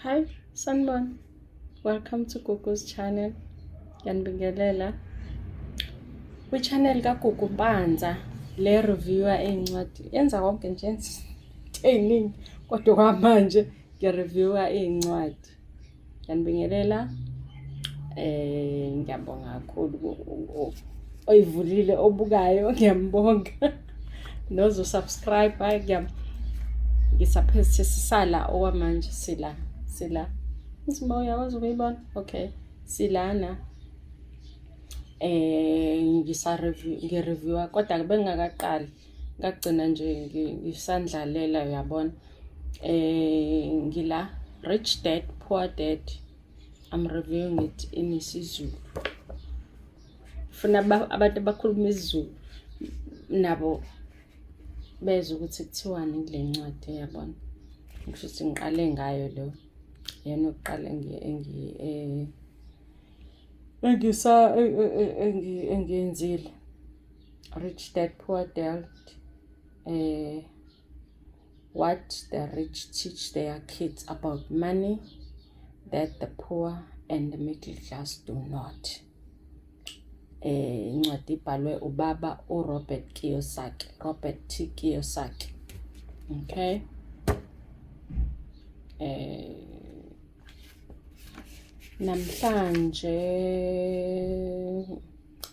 Hi, Sanbon. Welcome to Gugu's channel. Ngiyanibingelela. Kwi-channel kaGugu Mpanza le reviewer iy'ncwadi yenza konke nje into ey'ningi kodwa kwamanje ngi-reviewer iy'ncwadi. ngiyanibingelela eh ngiyabonga kakhulu oyivulile obukayo ngiyambonga nozo subscribe hayi ngiyam ngisaphezithe sisala okwamanje sila sila isimo uyakwazi ukuyibona okay silana eh ngisa review ngi reviewer kodwa bengingakaqali ngagcina nje ngisandlalela uyabona eh ngila rich dad poor dad i'm reviewing it in isiZulu funa abantu abakhuluma isiZulu nabo bezwe ukuthi kuthiwani kule ncwadi yabona ngisho ukuthi ngiqale ngayo lo yena oqale engiyenzile rich dad poor dad uh, what the rich teach their kids about money that the poor and the middle class do not eh incwadi ibhalwe ubaba uRobert Kiyosaki Robert T Kiyosaki okay eh namhlanje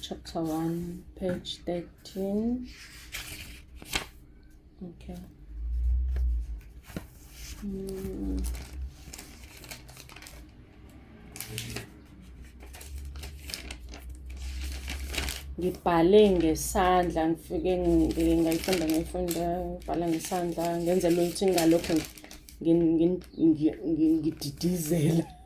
chapter 1 page 13 okay mm. ngibhale ngesandla ngifike ngayifunda ngayifunda ngibhala ngesandla ngenzela ukuthi ngalokho ngididizela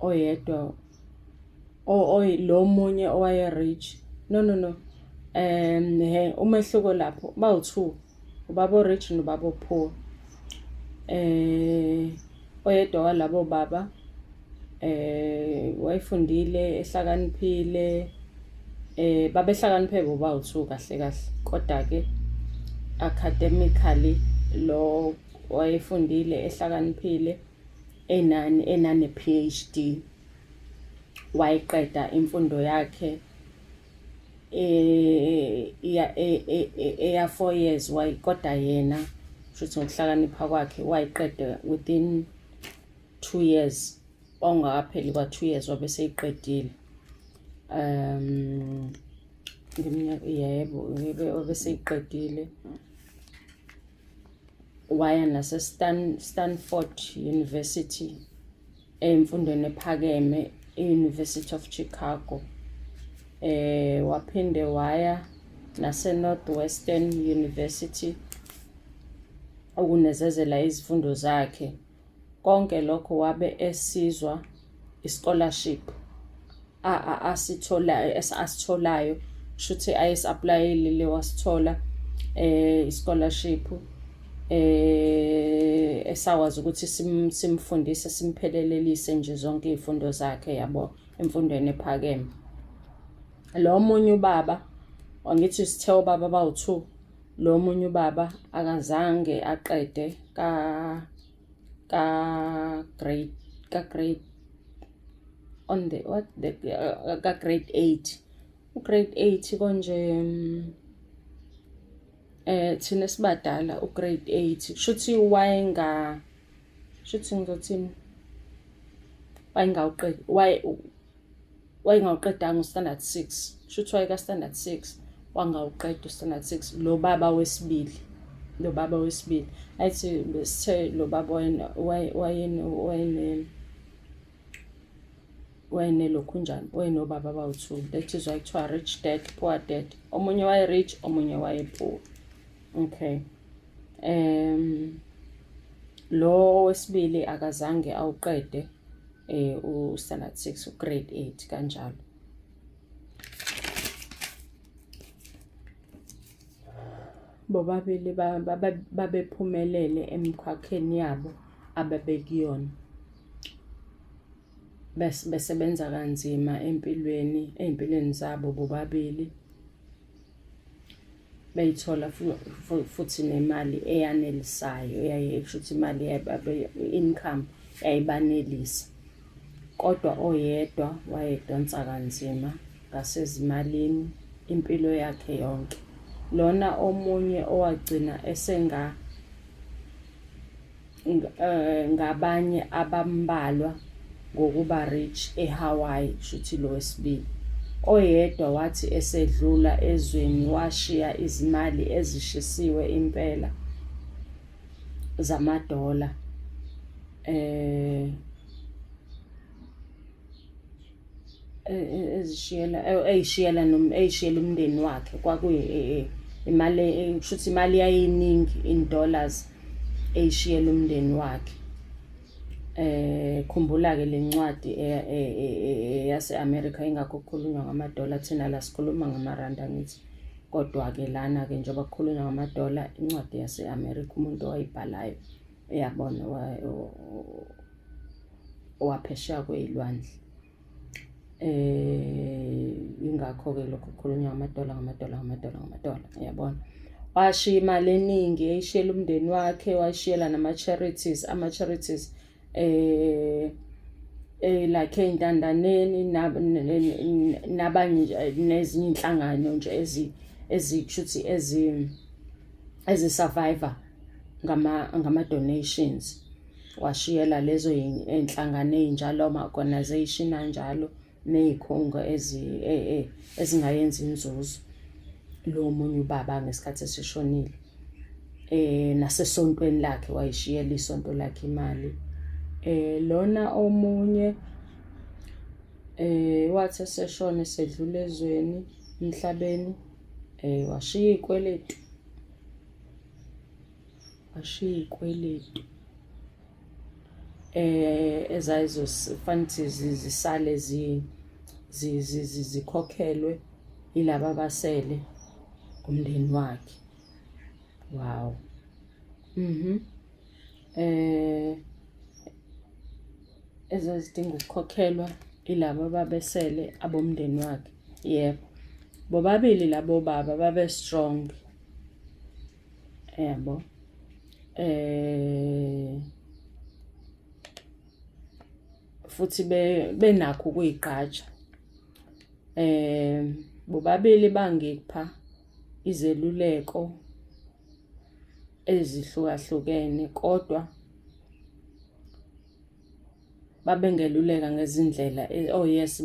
oyedwa oy lo munye owaye rich no no no um he umehluko lapho bawu-two ubaba o-rich nobaba o-poor um oyedwa walabo baba um wayefundile ehlakaniphile eh babehlakaniphe boba uthu kahle kahle kodwa ke academically lo wayefundile ehlakaniphile enani enane PhD wayiqeda imfundo yakhe eh iya e- e- e- eya 4 years wayikoda yena shuthi ngokuhlakanipha kwakhe wayiqeda within 2 years ongakapheli kwa 2 years wabe seyiqedile um ngeminyaka yebo wabe seyiqedile waya naseStanford University emfundweni ephakeme i-University of Chicago eh waphinde waya naseNorthwestern University okunezezela izifundo zakhe Konke lokho wabe esizwa i-scholarship asitholayo asitholayo kusho ukuthi ayesi-aplayile le wasithola eh i-scholarship eh esakwazi ukuthi simfundise simphelelelise nje zonke izifundo zakhe yabo emfundweni ephakeme lo munye ubaba wangithi sithe ubaba bawu-2 Lo munye ubaba akazange aqede ka ka grade ka grade on the what the uh, ka grade 8 u grade 8 konje mm, eh thina sibadala u grade 8 kushuthi wayenga shuthi ngizothini wayengawuqedi wayengawuqedanga uStandard 6 shuthi wayekaStandard 6 wangawuqeda uStandard 6 lo baba wesibili lo baba wesibili athi besithe lo baba wayena wayena wayena wayene lokhu njani wayenobaba abawu-two that is why kuthiwa rich dad poor dad omunye waye-rich omunye waye-poor okay um lo wesibili akazange awuqede eh u standard 6 u grade 8 kanjalo bobabili babephumelele emkhakheni yabo ababekuyona besebenza kanzima empilweni ezimpilweni zabo bobabili beyithola futhi nemali eyanelisayo yaye kusho ukuthi imali income yayibanelisa kodwa oyedwa wayedonsa kanzima ngasezimalini impilo yakhe yonke lona omunye owagcina esenga eh, ngabanye abambalwa ngokuba rich eHawaii shuthi lo wesibili oyedwa wathi esedlula ezweni washiya izimali ezishisiwe impela zamadola eh e- e- ezishiyela e- eyishiyela nom eyishiyela umndeni wakhe kwakuyi e- e- imali e- kusho ukuthi imali yayiningi in dollars eyishiyela umndeni wakhe eh khumbula ke lencwadi e- e- e- e- yase America ingakho kukhulunywa ngama dollar thina la sikhuluma ngama rand angithi kodwa ke lana ke njengoba kukhulunywa ngama dollar incwadi yase America umuntu owayibhalayo uyabona waphesheya kwey'lwandle eh ingakho-ke lokhu kukhulunywa ngamadola ngamadola ngamadola ngamadola uyabona washiya imali eningi eyishiyela umndeni wakhe washiyela nama-charities ama-charities eh eh like ey'ntandaneni nabanye nezinye iy'nhlangano nje ezi ezikushuthi ezi ezi-survivor ngama-donations ngama washiyela lezo iy'nhlangano ey'njalo ama-organization anjalo ney'khungo e, e, ezingayenzi inzuzo lo munye ubaba ngesikhathi esishonile eh nasesontweni lakhe wayishiyela isonto lakhe imali eh lona omunye eh wathi eseshona esedlula ezweni emhlabeni eh washiya izikweletu washiya iy'kweletu eh ezayizofanele zisale zikhokhelwe yilaba abasele umndeni wakhe wow mhm eh ezazidinga ukukhokhelwa ilabo babesele abomndeni wakhe yebo bobabili labo baba babe strong yabo eh futhi benakho ukuyigqaja eh bobabili bangipha izeluleko ezihlukahlukene kodwa babengeluleka ngezindlela eh, oh yes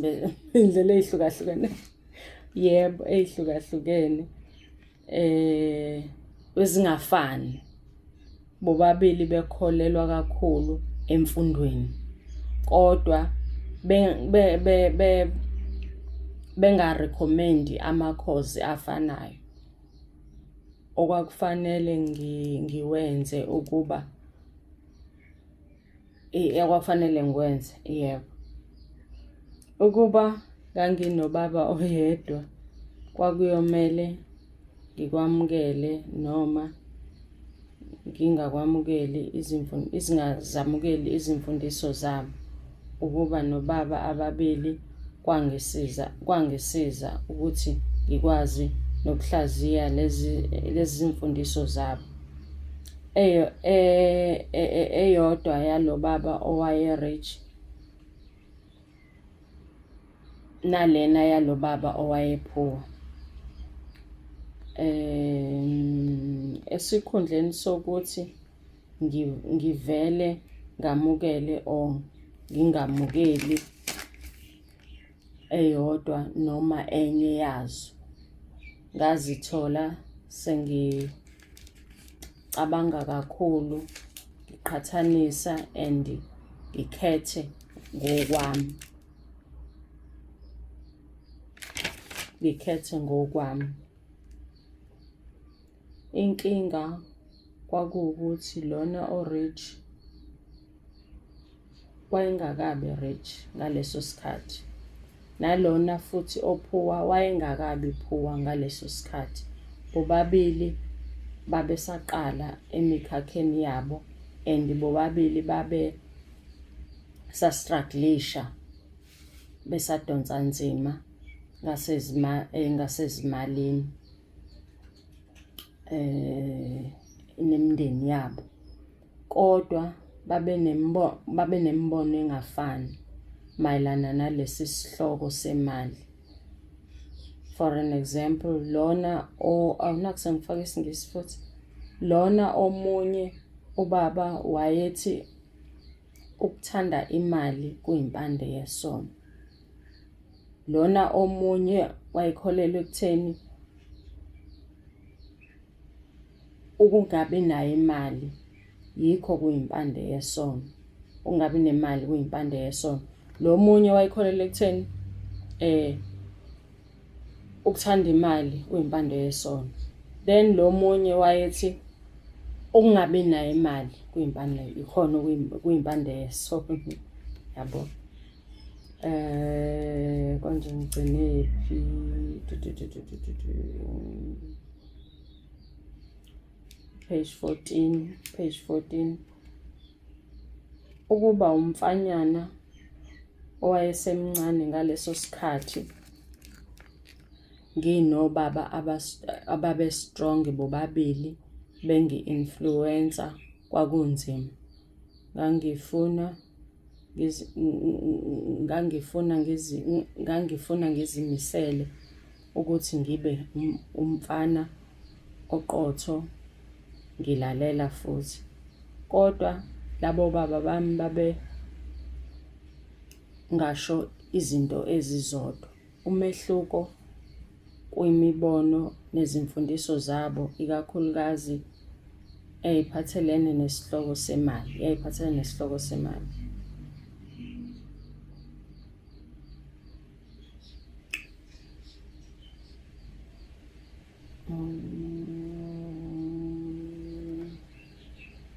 indlela eyihlukahlukene yebo eyihlukahlukene eh ezingafani bobabili bekholelwa kakhulu emfundweni kodwa be be be bengarecommend amakhozi afanayo okwakufanele ngiwenze ukuba ekwakufanele ngikwenze yebo ukuba nganginobaba oyedwa kwakuyomele ngikwamukele noma ngingakwamukeli izingazamukeli izimfundiso zabo ukuba nobaba ababili kwangisiza kwangisiza ukuthi ngikwazi nokuhlaziya lezi lezi zimfundiso zabo eyo e- e- e- eyodwa yalo baba owaye rich nalena yalo baba owaye poor em esikhundleni sokuthi ngi- ngivele ngamukele or ngingamukeli eyodwa noma enye yazo. Ngazithola sengicabanga kakhulu, ngiqhathanisa and ngikhethe ngokwami. Ngikhethe ngokwami. Inkinga kwakuwukuthi lona o-rich wayengakabi rich ngaleso sikhathi nalona futhi ophuwa wayengakabi phuwa ngaleso sikhathi bobabili babesaqala emikhakheni yabo and bobabili babe sastruglisha besadonsa nzima eh, ngasezimalini eh nemindeni yabo kodwa babe nembono babe nembono engafani mayelana nalesi sihloko semali for an example lona o awunakuthi ngifake isingisi futhi lona omunye ubaba wayethi ukuthanda imali kuyimpande yesono lona omunye wayekholelwa ekutheni ukungabi nayo imali yikho kuyimpande yesono ungabi nemali kuyimpande yesono lo munye wayekholelwa ekutheni eh ukuthanda imali kuyimpande yesono then lo munye wayethi ukungabi nayo imali kuyimpande ikhona kuyimpande yesono yabo Eh konje ngigcinephi? Page 14, page 14. Ukuba umfanyana owayesemncane ngaleso sikhathi nginobaba ababe strong bobabili bengi influencer kwakunzima ngangifuna ngangifuna ngangifuna ngizimisele ukuthi ngibe umfana oqotho ngilalela futhi kodwa labo baba bami babe ngasho izinto ezizodwa. Umehluko kwimibono nezimfundiso zabo ikakhulukazi eyayiphathelene nesihloko semali, yayiphathelene nesihloko semali.